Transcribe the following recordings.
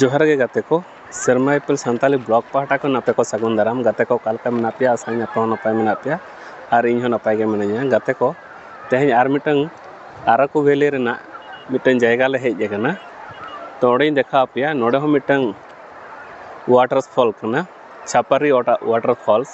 ᱡᱚᱦᱟᱨ ᱜᱮ ᱜᱟᱛᱮ ᱠᱚ ᱥᱮᱨᱢᱟ ᱤᱯᱤᱞ ᱥᱟᱱᱛᱟᱲᱤ ᱵᱞᱚᱜᱽ ᱯᱟᱦᱴᱟ ᱠᱷᱚᱱ ᱟᱯᱮ ᱠᱚ ᱥᱟᱹᱜᱩᱱ ᱫᱟᱨᱟᱢ ᱜᱟᱛᱮ ᱠᱚ ᱚᱠᱟ ᱞᱮᱠᱟ ᱢᱮᱱᱟᱜ ᱯᱮᱭᱟ ᱟᱥᱟᱭᱟᱹᱧ ᱟᱯᱮ ᱦᱚᱸ ᱱᱟᱯᱟᱭ ᱢᱮᱱᱟᱜ ᱯᱮᱭᱟ ᱟᱨ ᱤᱧ ᱦᱚᱸ ᱱᱟᱯᱟᱭ ᱜᱮ ᱢᱤᱱᱟᱹᱧᱟ ᱜᱟᱛᱮ ᱠᱚ ᱛᱮᱦᱮᱧ ᱟᱨ ᱢᱤᱫᱴᱟᱹᱝ ᱟᱨᱟᱠᱩ ᱵᱷᱮᱞᱤ ᱨᱮᱱᱟᱜ ᱢᱤᱫᱴᱟᱹᱝ ᱡᱟᱭᱜᱟ ᱞᱮ ᱦᱮᱡ ᱟᱠᱟᱱᱟ ᱛᱚ ᱚᱸᱰᱮᱧ ᱫᱮᱠᱷᱟᱣ ᱟᱯᱮᱭᱟ ᱱᱚᱰᱮ ᱦᱚᱸ ᱢᱤᱫᱴᱟᱹᱝ ᱚᱣᱟᱴᱟᱨ ᱯᱷᱚᱞ ᱠᱟᱱᱟ ᱪᱷᱟᱯᱟᱨᱤ ᱚᱣᱟᱴᱟᱨ ᱚᱣᱟᱴᱟᱨ ᱯᱷᱚᱞᱥ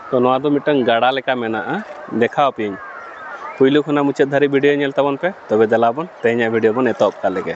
ᱛᱚ ᱱᱚᱣᱟ ᱫᱚ ᱢᱤᱫᱴᱟᱝ ᱜᱟᱰᱟ ᱞᱮᱠᱟ ᱢᱮᱱᱟᱜᱼᱟ ᱫᱮᱠᱷᱟᱣ ᱟᱯᱮᱭᱟᱹᱧ ᱯᱩᱭᱞᱩ ᱠᱷᱚᱱᱟᱜ ᱢᱩᱪᱟᱹᱫ ᱫᱷᱟᱹᱨᱤᱡ ᱵᱷᱤᱰᱤᱭᱳ ᱧᱮᱞ ᱛᱟᱵᱚᱱ ᱯᱮ ᱛᱚᱵᱮ ᱫᱮᱞᱟ ᱵᱚᱱ ᱛᱮᱦᱮᱧᱟᱜ ᱵᱷᱤᱰᱤᱭᱳ ᱵᱚᱱ ᱮᱛᱚᱦᱚᱵ ᱠᱟᱜ ᱞᱮᱜᱮ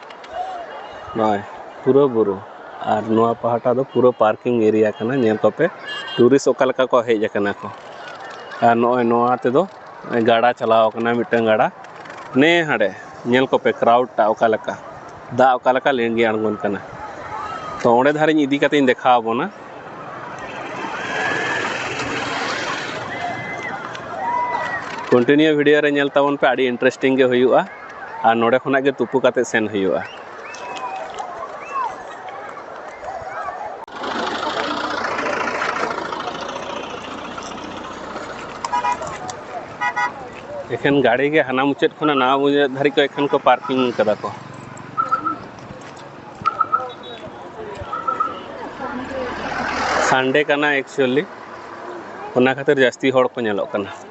ᱱᱚᱜᱼᱚᱭ ᱯᱩᱨᱟᱹ ᱵᱩᱨᱩ ᱟᱨ ᱱᱚᱣᱟ ᱯᱟᱦᱴᱟ ᱫᱚ ᱯᱩᱨᱟᱹ ᱯᱟᱨᱠᱤᱝ ᱮᱨᱤᱭᱟ ᱠᱟᱱᱟ ᱧᱮᱞ ᱠᱚᱯᱮ ᱴᱩᱨᱤᱥᱴ ᱚᱠᱟ ᱞᱮᱠᱟ ᱠᱚ ᱦᱮᱡ ᱠᱟᱱᱟ ᱠᱚ ᱟᱨ ᱱᱚᱜᱼᱚᱭ ᱱᱚᱣᱟ ᱛᱮᱫᱚ ᱜᱟᱰᱟ ᱪᱟᱞᱟᱣ ᱠᱟᱱᱟ ᱢᱤᱫᱴᱟᱝ ᱜᱟᱰᱟ ᱱᱮ ᱦᱟᱸᱰᱮ ᱧᱮᱞ ᱠᱚᱯᱮ ᱠᱨᱟᱣᱩᱰ ᱴᱟᱜ ᱚᱠᱟ ᱞᱮᱠᱟ ᱫᱟᱜ ᱚᱠᱟ ᱞᱮᱠᱟ ᱞᱤᱸᱜᱤ ᱟᱬᱜᱚᱱ ᱠᱟᱱᱟ ᱛᱚ ᱚᱸᱰᱮ ᱫᱷᱟᱨᱮᱧ ᱤᱫᱤ ᱠᱟᱛᱮᱧ ᱫᱮᱠᱷᱟᱣ ᱵᱚᱱᱟ ᱠᱚᱱᱴᱤᱱᱤᱭᱩ ᱵᱷᱤᱰᱤᱭᱳ ᱨᱮ ᱧᱮᱞ ᱛᱟᱵᱚᱱ ᱯᱮ ᱟᱹᱰᱤ ᱤᱱᱴᱟᱨᱮᱥᱴᱤᱝ ᱜᱮ ᱦᱩᱭᱩᱜᱼᱟ ᱟᱨ ᱱᱚᱰᱮ ᱠᱷᱚᱱᱟᱜ ᱜᱮ ᱛᱩᱯᱩ ᱠᱟᱛᱮ ᱥᱮᱱ ᱦᱩᱭᱩᱜᱼᱟ ᱮᱠᱷᱮᱱ ᱜᱟᱹᱲᱤ ᱜᱮ ᱦᱟᱱᱟ ᱢᱩᱪᱟᱹᱫ ᱠᱷᱚᱱᱟᱜ ᱱᱟᱣᱟ ᱢᱩᱪᱟᱹᱫ ᱫᱷᱟᱹᱨᱤᱡ ᱠᱚ ᱮᱠᱷᱮᱱ ᱠᱚ ᱯᱟᱨᱠᱤᱝ ᱠᱟᱫᱟ ᱠᱚ ᱥᱟᱱᱰᱮ ᱠᱟᱱᱟ ᱮᱠᱪᱩᱭᱮᱞᱤ ᱚᱱᱟ ᱠᱷᱟᱹᱛᱤᱨ ᱡᱟᱹᱥᱛᱤ ᱦᱚᱲ ᱠᱚ ᱧᱮᱞᱚᱜ ᱠᱟᱱᱟ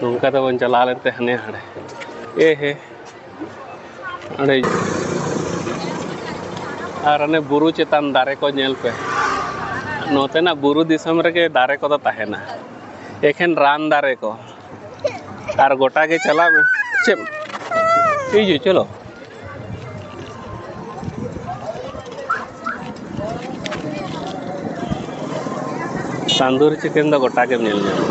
ᱱᱚᱝᱠᱟ ᱛᱮᱵᱚᱱ ᱪᱟᱞᱟᱣ ᱞᱮᱱᱛᱮ ᱦᱟᱱᱮ ᱦᱟᱸᱰᱮ ᱮ ᱦᱮ ᱚᱸᱰᱮ ᱟᱨ ᱚᱱᱮ ᱵᱩᱨᱩ ᱪᱮᱛᱟᱱ ᱫᱟᱨᱮ ᱠᱚ ᱧᱮᱞ ᱯᱮ ᱱᱚᱛᱮᱱᱟᱜ ᱵᱩᱨᱩ ᱫᱤᱥᱚᱢ ᱨᱮᱜᱮ ᱫᱟᱨᱮ ᱠᱚᱫᱚ ᱛᱟᱦᱮᱱᱟ ᱮᱠᱷᱮᱱ ᱨᱟᱱ ᱫᱟᱨᱮ ᱠᱚ ᱟᱨ ᱜᱚᱴᱟ ᱜᱮ ᱪᱟᱞᱟᱜ ᱢᱮ ᱪᱮᱫ ᱦᱤᱡᱩᱜ ᱪᱚᱞᱚ ᱛᱟᱱᱫᱩᱨᱤ ᱪᱤᱠᱮᱱ ᱫᱚ ᱜᱚᱴᱟ ᱜᱮᱢ ᱧᱮᱞ ᱧᱟᱢᱟ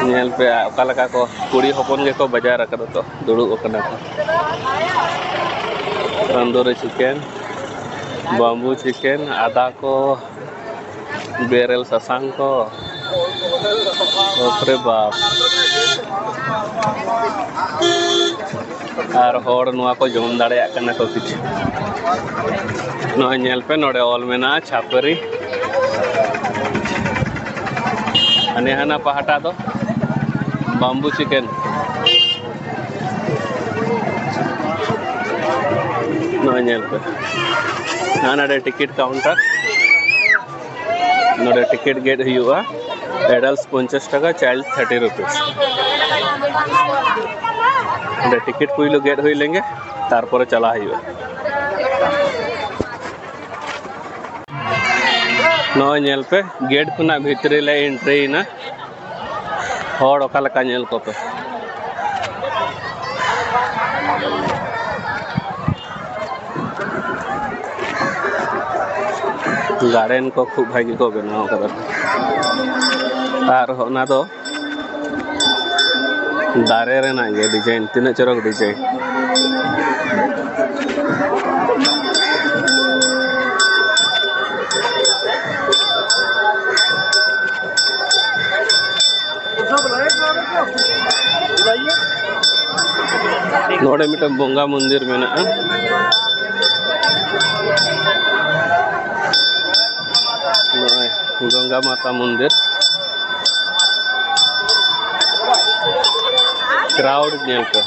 ᱧᱮᱞ ᱯᱮ ᱚᱠᱟ ᱞᱮᱠᱟ ᱠᱚ ᱠᱩᱲᱤ ᱦᱚᱯᱚᱱ ᱜᱮᱠᱚ ᱵᱟᱡᱟᱨ ᱟᱠᱟᱫᱟ ᱛᱚ ᱫᱩᱲᱩᱵ ᱟᱠᱟᱱᱟ ᱠᱚ ᱛᱟᱱᱫᱩᱨᱤ ᱪᱤᱠᱮᱱ ᱵᱟᱢᱵᱩ ᱪᱤᱠᱮᱱ ᱟᱫᱟ ᱠᱚ ᱵᱮᱨᱮᱞ ᱥᱟᱥᱟᱝ ᱠᱚ ᱵᱟᱯᱨᱮ ᱵᱟᱯ ᱟᱨ ᱦᱚᱲ ᱱᱚᱣᱟ ᱠᱚ ᱡᱚᱢ ᱫᱟᱲᱮᱭᱟᱜ ᱠᱟᱱᱟ ᱠᱚ ᱠᱤᱪᱷᱩ ᱱᱚᱜᱼᱚᱭ ᱧᱮᱞ ᱯᱮ ᱱᱚᱰᱮ ᱚᱞ ᱢᱮᱱᱟᱜᱼᱟ ᱪᱷᱟᱯᱟᱹᱨᱤ ᱦᱟᱱᱮ ᱦᱟᱱᱟ ᱯᱟᱦᱴᱟ ᱫᱚ ᱵᱟᱢᱵᱩ ᱪᱤᱠᱮᱱ ᱱᱚᱜᱼᱚᱭ ᱧᱮᱞ ᱯᱮ ᱱᱚᱜᱼᱚᱭ ᱱᱚᱰᱮ ᱴᱤᱠᱤᱴ ᱠᱟᱣᱩᱱᱴᱟᱨ ᱱᱚᱰᱮ ᱴᱤᱠᱤᱴ ᱜᱮᱫ ᱦᱩᱭᱩᱜᱼᱟ ᱮᱰᱟᱞᱴᱥ ᱯᱚᱧᱪᱟᱥ ᱴᱟᱠᱟ ᱪᱟᱭᱤᱞᱰ ᱛᱷᱟᱨᱴᱤ ᱨᱩᱯᱤᱥ ᱚᱸᱰᱮ ᱴᱤᱠᱤᱴ ᱯᱩᱭᱞᱩ ᱜᱮᱫ ᱦᱩᱭ ᱞᱮᱱᱜᱮ ᱛᱟᱨᱯᱚᱨᱮ ᱪᱟᱞᱟᱜ ᱦᱩᱭᱩᱜᱼᱟ ᱱᱚᱜᱼᱚᱭ ᱧᱮᱞ ᱯᱮ ᱜᱮᱴ ᱠᱷᱚᱱᱟᱜ ᱵᱷᱤᱛᱨᱤ ᱞᱮ ᱮᱱᱴᱨᱤᱭᱮᱱᱟ ᱦᱚᱲ ᱚᱠᱟ ᱞᱮᱠᱟ ᱧᱮᱞ ᱠᱚᱯᱮ ᱜᱟᱨᱰᱮᱱ ᱠᱚ ᱠᱷᱩᱵ ᱵᱷᱟᱜᱤ ᱠᱚ ᱵᱮᱱᱟᱣ ᱠᱟᱫᱟ ᱟᱨ ᱚᱱᱟ ᱫᱚ ᱫᱟᱨᱮ ᱨᱮᱱᱟᱜ ᱜᱮ ᱰᱤᱡᱟᱭᱤᱱ ᱛᱤᱱᱟᱹᱜ ᱪᱚᱨᱚᱠ ᱰᱤᱡᱟᱭᱤᱱ ᱱᱚᱰᱮ ᱢᱤᱫᱴᱟᱝ ᱵᱚᱸᱜᱟ ᱢᱚᱱᱫᱤᱨ ᱢᱮᱱᱟᱜᱼᱟ ᱱᱚᱜᱼᱚᱭ ᱜᱚᱝᱜᱟ ᱢᱟᱛᱟ ᱢᱚᱱᱫᱤᱨ ᱠᱨᱟᱣᱰ ᱧᱮᱞ ᱯᱮ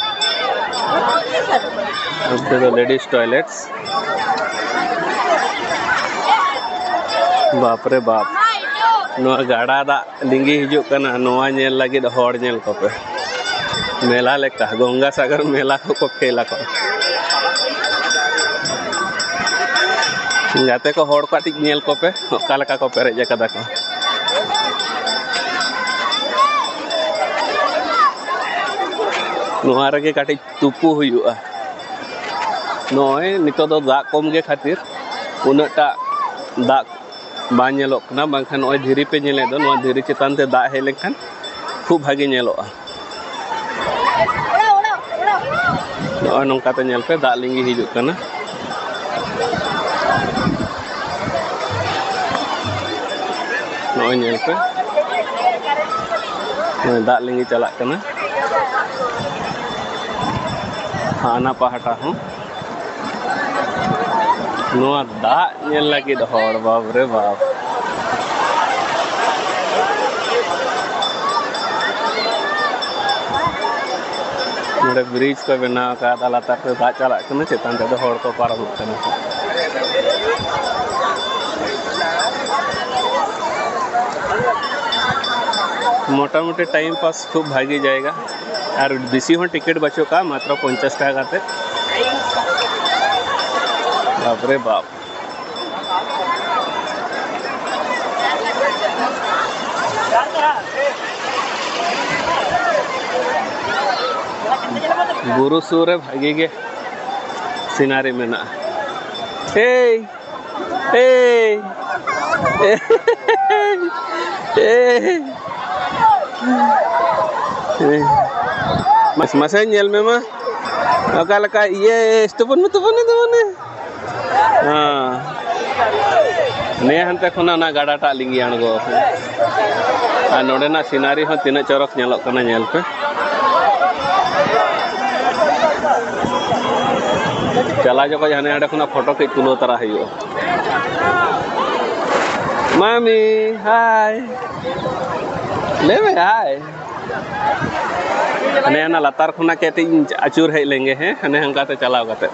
ᱚᱱᱛᱮ ᱫᱚ ᱞᱮᱰᱤᱥ ᱴᱚᱭᱞᱮᱴᱥ ᱵᱟᱯᱨᱮ ᱵᱟᱯ ᱱᱚᱣᱟ ᱜᱟᱰᱟ ᱫᱟᱜ ᱞᱤᱸᱜᱤ ᱦᱤᱡᱩᱜ ᱠᱟᱱᱟ ᱱᱚᱣᱟ ᱧᱮᱞ ᱞᱟᱹᱜᱤᱫ ᱦᱚᱲ ᱧᱮᱞ ᱠᱚᱯᱮ ᱢᱮᱞᱟ ᱞᱮᱠᱟ ᱜᱚᱝᱜᱟ ᱥᱟᱜᱚᱨ ᱢᱮᱞᱟ ᱠᱚᱠᱚ ᱠᱷᱮᱞ ᱟᱠᱚ ᱜᱟᱛᱮ ᱠᱚ ᱦᱚᱲ ᱠᱟᱹᱴᱤᱡ ᱧᱮᱞ ᱠᱚᱯᱮ ᱚᱠᱟ ᱞᱮᱠᱟ ᱠᱚ ᱯᱮᱨᱮᱡ ᱟᱠᱟᱫᱟ ᱠᱚ ᱱᱚᱣᱟ ᱨᱮᱜᱮ ᱠᱟᱹᱴᱤᱡ ᱛᱩᱯᱩ ᱦᱩᱭᱩᱜᱼᱟ ᱱᱚᱜᱼᱚᱭ ᱱᱤᱛᱚᱜ ᱫᱚ ᱫᱟᱜ ᱠᱚᱢ ᱜᱮ ᱠᱷᱟᱹᱛᱤᱨ ᱩᱱᱟᱹᱜ ᱴᱟᱜ ᱫᱟᱜ ᱵᱟᱝ ᱧᱮᱞᱚᱜ ᱠᱟᱱᱟ ᱵᱟᱝᱠᱷᱟᱱ ᱱᱚᱜᱼᱚᱭ ᱫᱷᱤᱨᱤ ᱯᱮ ᱧᱮᱞᱮᱫ ᱫᱚ ᱱᱚᱣᱟ ᱫᱷᱤᱨᱤ ᱪᱮᱛᱟᱱ ᱛᱮ ᱫᱟᱜ ᱦᱮᱡ ᱞᱮᱱᱠᱷᱟᱱ ᱠᱷᱩᱵ ᱵᱷᱟᱜᱮ ᱧᱮᱞᱚᱜᱼᱟ ᱱᱚᱜᱼᱚᱭ ᱱᱚᱝᱠᱟᱛᱮ ᱧᱮᱞ ᱯᱮ ᱫᱟᱜ ᱞᱤᱸᱜᱤ ᱦᱤᱡᱩᱜ ᱠᱟᱱᱟ ᱱᱚᱜᱼᱚᱭ ᱧᱮᱞ ᱯᱮ ᱫᱟᱜ ᱞᱤᱸᱜᱤ ᱪᱟᱞᱟᱜ ᱠᱟᱱᱟ ᱦᱟᱱᱟ ᱯᱟᱦᱴᱟ ᱦᱚᱸ ᱱᱚᱣᱟ ᱫᱟᱜ ᱧᱮᱞ ᱞᱟᱹᱜᱤᱫ ᱦᱚᱲ ᱵᱟᱯ ᱨᱮ ᱵᱟᱯ ᱱᱚᱰᱮ ᱵᱨᱤᱡᱽ ᱠᱚ ᱵᱮᱱᱟᱣ ᱟᱠᱟᱫᱟ ᱞᱟᱛᱟᱨ ᱛᱮ ᱫᱟᱜ ᱪᱟᱞᱟᱜ ᱠᱟᱱᱟ ᱪᱮᱛᱟᱱ ᱛᱮᱫᱚ ᱦᱚᱲ ᱠᱚ ᱯᱟᱨᱚᱢᱚᱜ ᱠᱟᱱᱟ ᱢᱚᱴᱟᱢᱩᱴᱤ ᱴᱟᱭᱤᱢ ᱯᱟᱥ ᱠᱷᱩᱵ ᱵᱷᱟᱜᱮ ᱡᱟᱭᱜᱟ ᱟᱨ ᱵᱮᱥᱤ ᱦᱚᱸ ᱴᱤᱠᱤᱴ ᱵᱟᱹᱪᱩᱜ ᱠᱟᱜᱼᱟ ᱢᱟᱛᱨᱚ ᱯᱚᱧᱪᱟᱥ ᱴᱟᱠᱟ ᱠᱟᱛᱮ ᱵᱟᱯᱨᱮ ᱵᱟᱯ ᱵᱩᱨᱩ ᱥᱩᱨ ᱨᱮ ᱵᱷᱟᱜᱤ ᱜᱮ ᱥᱤᱱᱟᱨᱤ ᱢᱮᱱᱟᱜᱼᱟ ᱮᱭ ᱮᱭ ᱮᱭ ᱢᱟᱥᱮ ᱧᱮᱞ ᱢᱮ ᱢᱟ ᱚᱠᱟ ᱞᱮᱠᱟ ᱤᱭᱟᱹ ᱛᱩᱯᱩᱱ ᱢᱮ ᱛᱩᱯᱩᱱ ᱢᱮ ᱛᱩᱯᱩᱱ ᱢᱮ ᱱᱮ ᱦᱟᱱᱛᱮ ᱠᱷᱚᱱᱟᱜ ᱚᱱᱟ ᱜᱟᱰᱟᱴᱟᱜ ᱞᱤᱸᱜᱤ ᱟᱬᱜᱚ ᱟᱠᱟᱱᱟ ᱟᱨ ᱱᱚᱰᱮᱱᱟᱜ ᱥᱤᱱᱟᱨᱤ ᱦᱚᱸ ᱛᱤᱱᱟᱹᱜ ᱪᱚᱨᱚᱠ ᱧᱮᱞᱚᱜ ᱠᱟᱱᱟ ᱧᱮᱞ ᱯᱮ ᱪᱟᱞᱟᱣ ᱡᱚᱠᱷᱚᱡ ᱦᱟᱱᱮ ᱦᱟᱸᱰᱮ ᱠᱷᱚᱱᱟᱜ ᱯᱷᱳᱴᱳ ᱠᱟᱹᱡ ᱛᱩᱞᱟᱹᱣ ᱛᱟᱨᱟ ᱦᱩᱭᱩᱜᱼᱟ ᱢᱟᱢᱤ ᱦᱟᱭ ᱞᱟᱹᱭ ᱢᱮ ᱦᱟᱭ ᱦᱟᱱᱮ ᱦᱟᱱᱟ ᱞᱟᱛᱟᱨ ᱠᱷᱚᱱᱟᱜ ᱠᱟᱹᱴᱤᱡ ᱤᱧ ᱟᱹᱪᱩᱨ ᱦᱮᱡ ᱞᱮᱱᱜᱮ ᱦᱮᱸ ᱦᱟᱱᱮ ᱦᱟᱱᱠᱟᱛᱮ ᱪᱟᱞᱟᱣ ᱠᱟᱛᱮ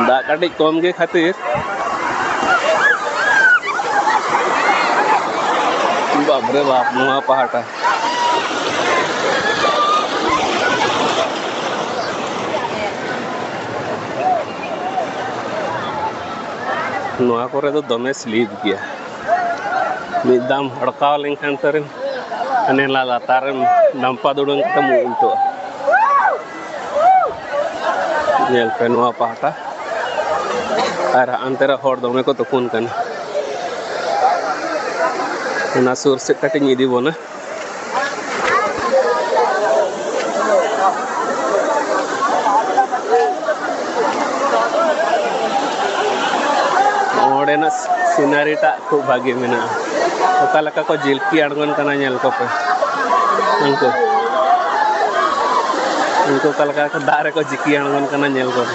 ᱫᱟᱜ ᱠᱟᱹᱴᱤᱡ ᱠᱚᱢ ᱜᱮ ᱠᱷᱟᱹᱛᱤᱨ ᱵᱟᱯᱨᱮ ᱵᱟᱯ ᱱᱚᱣᱟ ᱯᱟᱦᱴᱟ ᱱᱚᱣᱟ ᱠᱚᱨᱮ ᱫᱚ ᱫᱚᱢᱮ ᱥᱞᱤᱯ ᱜᱮᱭᱟ ᱢᱤᱫ ᱫᱟᱢ ᱦᱚᱲᱠᱟᱣ ᱞᱮᱱᱠᱷᱟᱱ ᱛᱟᱨᱮᱢ ᱦᱟᱱᱮ ᱞᱟᱛᱟᱨᱮᱢ ᱰᱟᱢᱯᱟ ᱫᱩᱲᱟᱹᱝ ᱠᱟᱛᱮᱢ ᱩᱞᱴᱟᱹᱜᱼᱟ ᱧᱮᱞ ᱯᱮ ᱱᱚᱣᱟ ᱯᱟᱦᱴᱟ ᱟᱨ ᱦᱟᱱᱛᱮ ᱨᱮ ᱦᱚᱲ ᱫᱚᱢᱮ ᱠᱚ ᱛᱩᱯᱩᱱ ᱠᱟᱱᱟ ᱚᱱᱟ ᱥᱩᱨ ᱥᱮᱫ ᱠᱟᱹᱴᱤᱡ ᱤᱧ ᱤᱫᱤ ᱵᱚᱱᱟ ᱚᱸᱰᱮᱱᱟᱜ ᱥᱤᱱᱟᱨᱤ ᱴᱟᱜ ᱠᱷᱩᱵ ᱵᱷᱟᱜᱮ ᱢᱮᱱᱟᱜᱼᱟ ᱚᱠᱟ ᱞᱮᱠᱟ ᱠᱚ ᱡᱤᱞᱯᱤ ᱟᱬᱜᱚᱱ ᱠᱟᱱᱟ ᱧᱮᱞ ᱠᱚᱯᱮ ᱩᱱᱠᱩ ᱩᱱᱠᱩ ᱚᱠᱟ ᱞᱮᱠᱟ ᱫᱟᱜ ᱨᱮᱠᱚ ᱡᱤᱠᱤ ᱟᱬᱜᱚᱱ ᱠᱟᱱᱟ ᱧᱮᱞ ᱠᱚᱯᱮ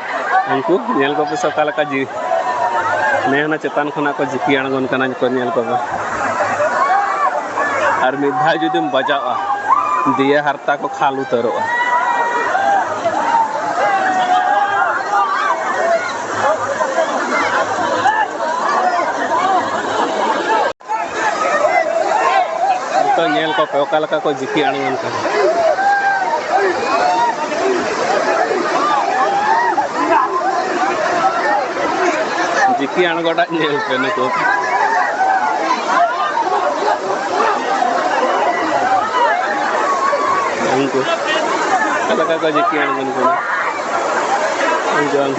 ᱩᱱᱠᱩ ᱧᱮᱞ ᱠᱚᱯᱮ ᱥᱮ ᱚᱠᱟ ᱞᱮᱠᱟ ᱡᱤ ᱱᱮᱦᱱᱟ ᱪᱮᱛᱟᱱ ᱠᱷᱚᱱᱟᱜ ᱠᱚ ᱡᱤᱯᱤ ᱟᱬᱜᱚᱱ ᱠᱟᱱᱟ ᱠᱚ ᱧᱮᱞ ᱠᱚᱯᱮ ᱟᱨ ᱢᱤᱫ ᱫᱷᱟᱣ ᱡᱩᱫᱤᱢ ᱵᱟᱡᱟᱣᱟ ᱫᱤᱭᱮ ᱦᱟᱨᱛᱟ ᱠᱚ ᱠᱷᱟᱞ ᱩᱛᱟᱹᱨᱚᱜᱼᱟ ᱱᱤᱛᱚᱜ ᱧᱮᱞ ᱠᱚᱯᱮ ᱚᱠᱟ ᱞᱮᱠᱟ ᱠᱚ ᱡᱤᱠᱤ ᱟᱬᱜᱚᱱ ᱠᱟᱱᱟ ᱡᱤᱠᱤ ᱟᱬᱜᱚᱴᱟᱜ ᱧᱮᱞ ᱯᱮ ᱱᱩᱠᱩ ᱩᱱᱠᱩ ᱚᱠᱟ ᱞᱮᱠᱟ ᱠᱚ ᱡᱤᱠᱤ ᱟᱬᱜᱚᱱ ᱠᱟᱱᱟ ᱡᱚᱢ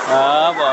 ᱵᱟᱵᱟ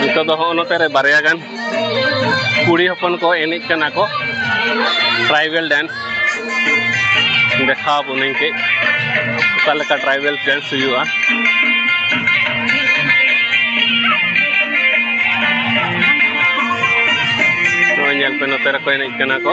ᱱᱤᱛᱚᱜ ᱫᱚ ᱦᱚᱸᱜᱼᱚ ᱱᱚᱛᱮ ᱨᱮ ᱵᱟᱨᱭᱟ ᱜᱟᱱ ᱠᱩᱲᱤ ᱦᱚᱯᱚᱱ ᱠᱚ ᱮᱱᱮᱡ ᱠᱟᱱᱟ ᱠᱚ ᱴᱨᱟᱭᱵᱮᱞ ᱰᱮᱱᱥ ᱫᱮᱠᱷᱟᱣ ᱵᱚᱱᱟᱹᱧ ᱠᱟᱹᱡ ᱚᱠᱟ ᱞᱮᱠᱟ ᱴᱨᱟᱭᱵᱮᱞ ᱰᱮᱱᱥ ᱦᱩᱭᱩᱜᱼᱟ ᱱᱚᱜᱼᱚᱭ ᱧᱮᱞ ᱯᱮ ᱱᱚᱛᱮ ᱨᱮᱠᱚ ᱮᱱᱮᱡ ᱠᱟᱱᱟ ᱠᱚ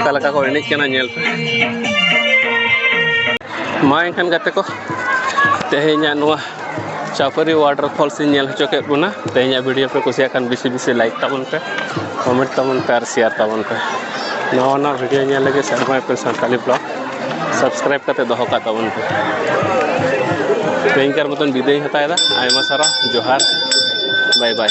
ᱚᱠᱟ ᱞᱮᱠᱟ ᱠᱚ ᱮᱱᱮᱡ ᱠᱟᱱᱟ ᱧᱮᱞ ᱯᱮ ᱢᱟ ᱮᱱᱠᱷᱟᱱ ᱜᱟᱛᱮ ᱠᱚ ᱛᱮᱦᱮᱧᱟᱜ ᱱᱚᱣᱟ ᱪᱟᱯᱟᱹᱨᱤ ᱣᱟᱴᱟᱨ ᱯᱷᱚᱞᱥ ᱤᱧ ᱧᱮᱞ ᱦᱚᱪᱚ ᱠᱮᱫ ᱵᱚᱱᱟ ᱛᱮᱦᱮᱧᱟᱜ ᱵᱷᱤᱰᱤᱭᱳ ᱯᱮ ᱠᱩᱥᱤᱭᱟᱜ ᱠᱷᱟᱱ ᱵᱮᱥᱤ ᱵᱮᱥᱤ ᱞᱟᱭᱤᱠ ᱛᱟᱵᱚᱱ ᱯᱮ ᱠᱚᱢᱮᱱᱴ ᱛᱟᱵᱚᱱ ᱯᱮ ᱟᱨ ᱥᱮᱭᱟᱨ ᱛᱟᱵᱚᱱ ᱯᱮ ᱱᱟᱣᱟ ᱱᱟᱣᱟ ᱵᱷᱤᱰᱤᱭᱳ ᱧᱮᱞ ᱞᱟᱹᱜᱤᱫ ᱥᱮᱨᱢᱟ ᱯᱩᱨ ᱥᱟᱱᱛᱟᱲᱤ ᱵᱞᱚᱜᱽ ᱥᱟᱵᱥᱠᱨᱟᱭᱤᱵ ᱠᱟᱛᱮ ᱫᱚᱦᱚ ᱠᱟᱜ ᱛᱟᱵᱚᱱ ᱯᱮ ᱛᱮᱦᱮᱧᱠᱟᱨ ᱢᱚᱛᱚᱱ ᱵᱤᱫᱟᱹᱭ ᱦᱟᱛᱟᱣᱮᱫᱟ ᱟᱭᱢᱟ ᱥᱟᱨᱦᱟᱣ ᱡᱚᱦᱟᱨ ᱵᱟᱭ ᱵᱟᱭ